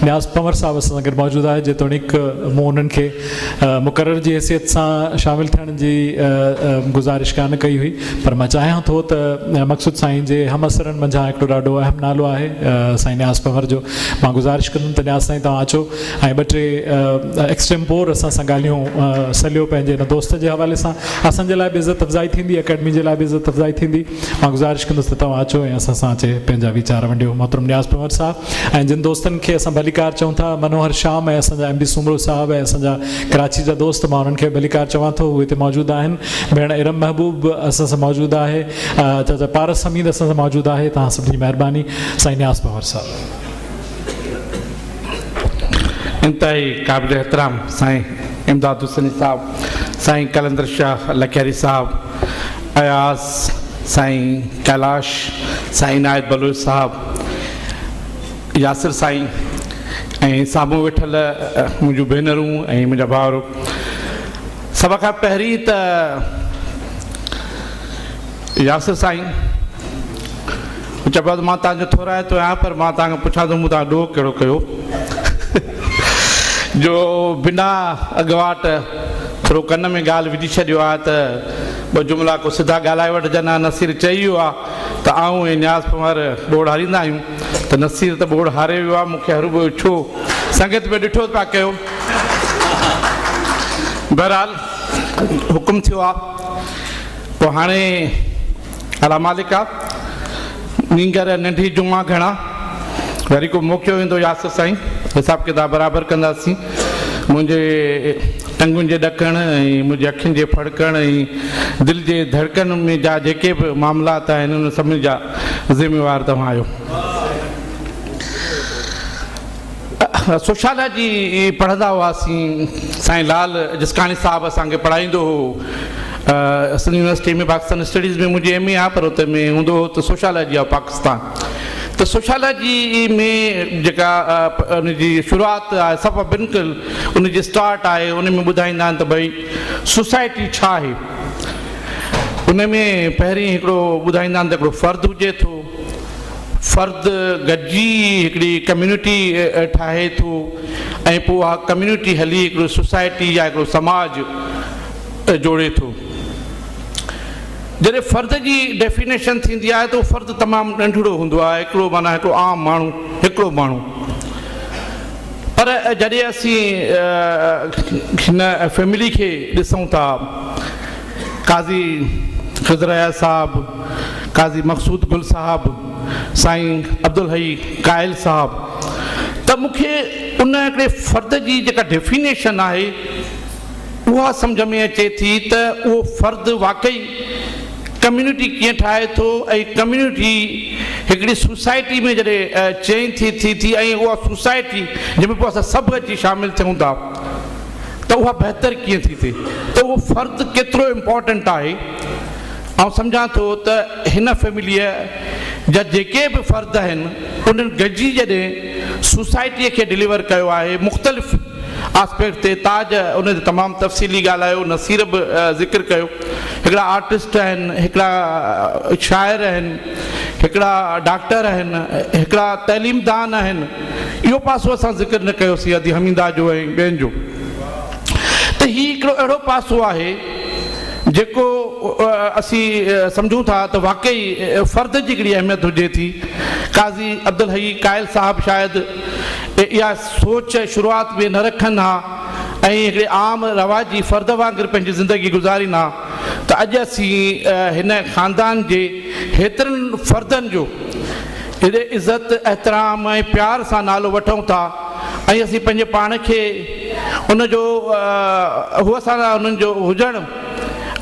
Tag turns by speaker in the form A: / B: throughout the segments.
A: نياز پنور صاحب اسان سان گڏ موجود آهي جيتوڻيڪ مون انهن کي مقرر جي حيثيت سان شامل ٿيڻ جي گذارش ڪانه ڪئي هئي پر مان چاهيان ٿو ته مقصود سائين جي هم اثرن منجهان هڪڙو ڏاڍو اهم نالو آهي سائين نياز پنور جو مان گذارش ڪندم ته نياز سائين توهان اچو ۽ ٻه ٽي ايڪسٽيمپور اسان سان ڳالهيون سليو پنهنجي ان دوست جي حوالي سان اسان جي لاء به عزت افزائي ٿيندي اڪيڊمي جي لاء به عزت افزائي ٿيندي مان گذارش ڪندس ته توهان اچو ۽ اسان سان اچي پنهنجا ويچار ونڊيو محترم نياز پنهور صاحب ۽ جن دوستن کي اسان ڀليڪار چئون ٿا منوهر شام ۽ اسان جا ايم ڊي سومرو صاحب ۽ اسان جا ڪراچي جا دوست مان انهن کي ڀليڪار چوان ٿو هو هتي موجود آهن ڀيڻ ارم محبوب به اسان سان موجود آهي چاچا پارس حميد اسان سان موجود آهي توهان سڀ جي مهرباني سائين نياز پنهور صاحب
B: انتهائي قابل احترام سائين امداد حسيني صاحب سائين قلندر شاهه لکياري صاحب اياز سائين ڪيلاش سائين عنايت بلوچ صاحب ياسر سائين ۽ سامهون ويٺل منهنجون ڀينرون ۽ منهنجا ڀاور سڀ کان پهرين ته ياسر سائين هو چيو بس مان توهان جو ٿورائتو آهيان پر مان توهان کان پڇان ٿو مون توهان ڏوهه ڪهڙو ڪيو جو بنا اڳواٽ ٿورو ڪن ۾ ڳالهه وجهي ڇڏيو آهي ته ٻه جملا ڪو سڌا ڳالهائي وٺجن ها نصير چئي ويو آهي ته آئون ۽ نياز پنهور ٻوڙ هاريندا آهيون ته نصير ته ٻوڙ هاري ويو آهي مون کي هرو ٻيو ڇو سنگت ۾ ڏٺو پيا ڪيو بهرحال حڪم ٿيو آهي پوء هاڻي الا مالڪ آ نينگر ۽ ننڊ هي جمعا گهڻا وري ڪو موقعو ايندو ياسر سائين حساب ڪتاب برابر ڪنداسين منهنجي ٽنگن جي ڏڪڻ ۽ منهنجي اکين جي ڦڙڪڻ ۽ دل جي ڌڙڪن ۾ جا جيڪي به معاملات آهن ان سڀني جا ذميوار توهان آهيو سوشالا جي پڙهندا هئاسين سائين لال جسڪاڻي صاحب اسان کي پڙهائيندو هو سنڌ يونيورسٽي ۾ پاڪستان اسٽڊيز ۾ منهنجي ايم اي آ پر اتي ۾ هوندو هو ته سوشالا جي آف پاڪستان ته سوشالا جي ۾ جيڪا ان جي شروعات آهي صفا بنڪل ان جي اسٽارٽ آهي ان ۾ ٻڌائيندا آهن ته ڀئي سوسائٽي ڇا آهي ان ۾ پهرين هڪڙو ٻڌائيندا آهن ته هڪڙو فرد هجي ٿو فرد گڏجي هڪڙي ڪميونٽي ٺاهي ٿو ۽ پوء اها ڪميونٽي هلي هڪڙو سوسائٽي يا هڪڙو سماج جوڙي ٿو. جڏهن فرد جي ڊيفينيشن ٿيندي آهي ته اهو فرد تمام ننڍڙو هوندو آهي هڪڙو معنيٰ هڪڙو عام ماڻهو هڪڙو ماڻهو پر جڏهن اسين هن فيملي کي ڏسون ٿا قاضي خضر اياز صاحب، قاضي مقصود گل صاحب، سائين عبدالحئي قائل صاحب ته مون کي ان هڪڙي فرد جي جيڪا ڊيفينيشن آهي اها سمجهه ۾ اچي ٿي ته اهو فرد واقعي ڪميونٽي ڪيئن ٺاهي ٿو ۽ ڪميونٽي هڪڙي سوسائٽي ۾ جڏهن چينج ٿي ٿي ٿي ۽ اها سوسائٽي جنهن ۾ پوء اسان سڀ اچي شامل ٿيون ٿا ته اها بهتر ڪيئن ٿي ٿئي ته اهو فرد ڪيترو امپورٽنٽ آهي آئون سمجهان ٿو ته هن فيمليء جا جيڪي به فرد آهن انهن گڏجي جڏهن سوسائٽيء کي ڊليور ڪيو آهي مختلف آسپيڪٽ تي تاج ان تي تمام تفصيلي ڳالهايو نصير به ذڪر ڪيو هڪڙا آرٽسٽ آهن هڪڙا شاعر آهن هڪڙا ڊاڪٽر آهن هڪڙا تعليم دان آهن اهو پاسو اسان ذڪر نه ڪيو سيادي حميده جو ۽ ٻين جو ته هي هڪڙو اهڙو پاسو آهي جيڪو اسين سمجهون ٿا ته واقعي فرد جي هڪڙي اهميت هجي ٿي قاضي عبدالحئي قائل صاحب شايد اها سوچ شروعات ۾ نه رکن ها ۽ هڪڙي عام رواجي فرد وانگر پنهنجي زندگي گذارين ها ته اڄ اسين هن خاندان جي هيترن فردن جو جڏهن عزت، احترام ۽ پيار سان نالو وٺون ٿا ۽ اسين پنهنجي پاڻ کي ان جو هو سان انهن جو هجڻ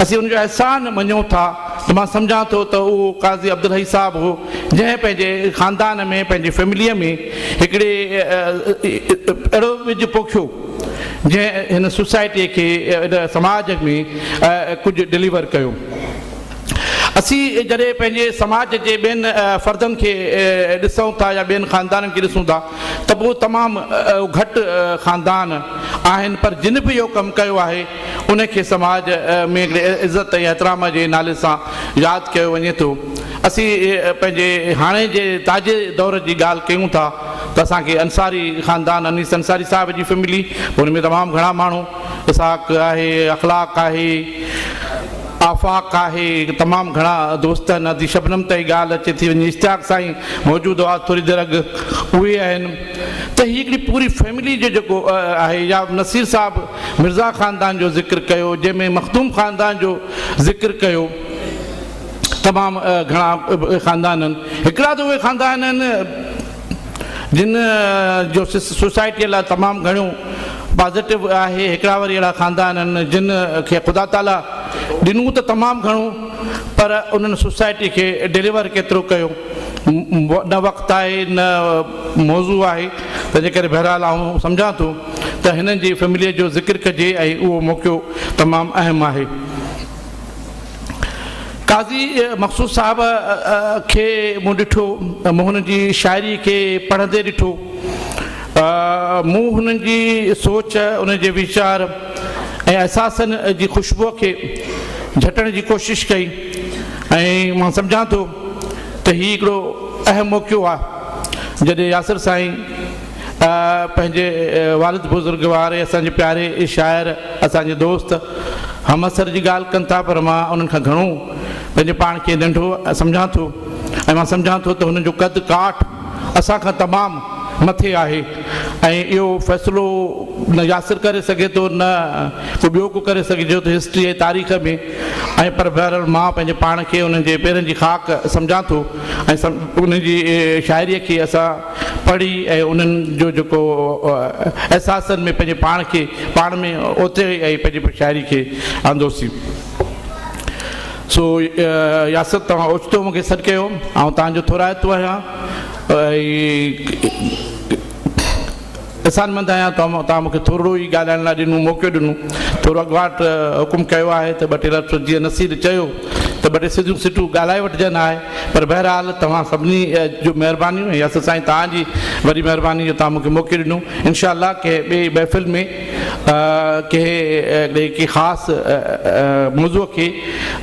B: اسين ان جو احسان مڃون ٿا ته مان سمجهان ٿو ته اهو قاضي عبدالحئي صاحب هو جنهن پنهنجي خاندان ۾ پنهنجي فيمليء ۾ هڪڙي اهڙو ٻج پوکيو جنهن هن سوسائٽيء کي هن سماج ۾ ڪجهه ڊليور ڪيو. اسين جڏهن پنهنجي سماج جي ٻين فردن کي ڏسون ٿا يا ٻين خاندانن کي ڏسون ٿا ته پوء تمام گهٽ خاندان آهن پر جن به اهو ڪم ڪيو آهي ان کي سماج ۾ هڪڙي عزت ۽ احترام جي نالي سان ياد ڪيو وڃي ٿو اسين پنهنجي هاڻي جي تازي دور جي ڳالهه ڪيون ٿا ته اسان کي انصاري خاندان انيس انصاري صاحب جي فيملي ان ۾ تمام گهڻا ماڻهو اسحاق آهي اخلاق آهي آفاق آهي تمام گهڻا دوست آهن ادي شبنم تائين ڳالهه اچي ٿي وڃي اشتياق سائين موجود هئا ٿوري دير اڳ اهي آهن ته هي هڪڙي پوري فيملي جو جيڪو آهي يا نصير صاحب مرزا خاندان جو ذڪر ڪيو جنهن ۾ مخدوم خاندان جو ذڪر ڪيو تمام گهڻا خاندان آهن هڪڙا ته اهي خاندان آهن جن جو سوسائٽيء لاء تمام گهڻو پازيٽو آهي، هڪڙا وري اهڙا خاندان آهن جن کي خدا تعاليٰ ڏنو ته تمام گهڻو پر انهن سوسائٽيء کي ڊليور ڪيترو ڪيو نه وقت آهي نه موضوع آهي تنهنجي ڪري بهرحال آئون سمجهان ٿو ته هنن جي فيمليء جو ذڪر ڪجي ۽ اهو موقعو تمام اهم آهي. قاضي مقصود صاحب کي مون ڏٺو، مون هنن جي شاعري کي پڙهندي ڏٺو، مون هنن جي سوچ، انهن جي ويچار ۽ احساسن جي خوشبوء کي جهٽڻ جي ڪوشش ڪئي ۽ مان سمجهان ٿو ته هي هڪڙو اهم موقعو آ جڏهن ياسر سائين پنهنجي والد بزرگ واري اسان جي پياري شاعر اسان جي دوست همعصر جي ڳالهه ڪن ٿا پر مان انهن کان گهڻو پنهنجي پاڻ کي ننڍو سمجهان ٿو ۽ مان سمجهان ٿو ته هنن جو قد ڪاٺ اسان کان تمام مٿي آهي ۽ اهو فيصلو نه ياسر ڪري سگهي ٿو نه ڪو ٻيو ڪو ڪري سگهي جو ته هسٽري ۽ تاريخ ۾ ۽ پر بهرحال مان پنهنجي پاڻ کي انهن جي پيرن جي خاڪ سمجهان ٿو ۽ انهن جي شاعري کي اسان پڙهي ۽ انهن جو جيڪو احساسن ۾ پنهنجي پاڻ کي پاڻ ۾ اوتي ۽ پنهنجي شاعري کي آندوسين. سو ياسر توهان اوچتو مون کي سڏ ڪيو. آئون توهان جو ٿورائتو آهيان. احسانمند آهيان ته توهان مون کي ٿورڙو ئي ڳالهائڻ لاء ڏنو، موقعو ڏنو. ٿورو اڳواٽ حڪم ڪيو آهي ته ٻه ٽي لفظ جيئن نصير چيو ته ٻه ٽي سڌيون سٽون ڳالهائي وٺجن ها. پر بهرحال توهان سڀني جون مهربانيون ۽ اصل سائين توهان جي وڏي مهرباني جو توهان مون کي موقعو ڏنو. انشاء الله ڪنهن ٻئي محفل ۾ ڪنهن ڪنهن خاص موضوع کي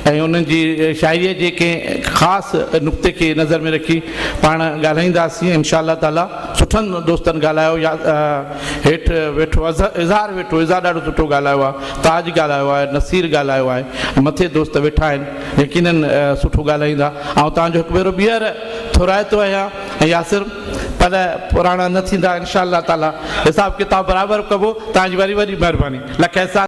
B: ۽ انهن جي شاعريء جي ڪنهن خاص نقطي کي نظر ۾ رکي پاڻ ڳالهائينداسين انشاء الله تعاليٰ. سٺن دوستن ڳالهايو يا هيٺ ويٺو اظهار ويٺو اظهار ڏاڍو سٺو ڳالهايو آهي تاج ڳالهايو آهي نصير ڳالهايو آهي مٿي دوست ويٺا آهن يقينن سٺو ڳالهائيندا آئون توهان جو هڪ ڀيرو ٻيهر ٿورائتو آهيان ۽ ياسر پل پراڻا نه ٿيندا انشاء الله تعالي حساب ڪتاب برابر ڪبو توهان جي وڏي وڏي مهرباني لک احسان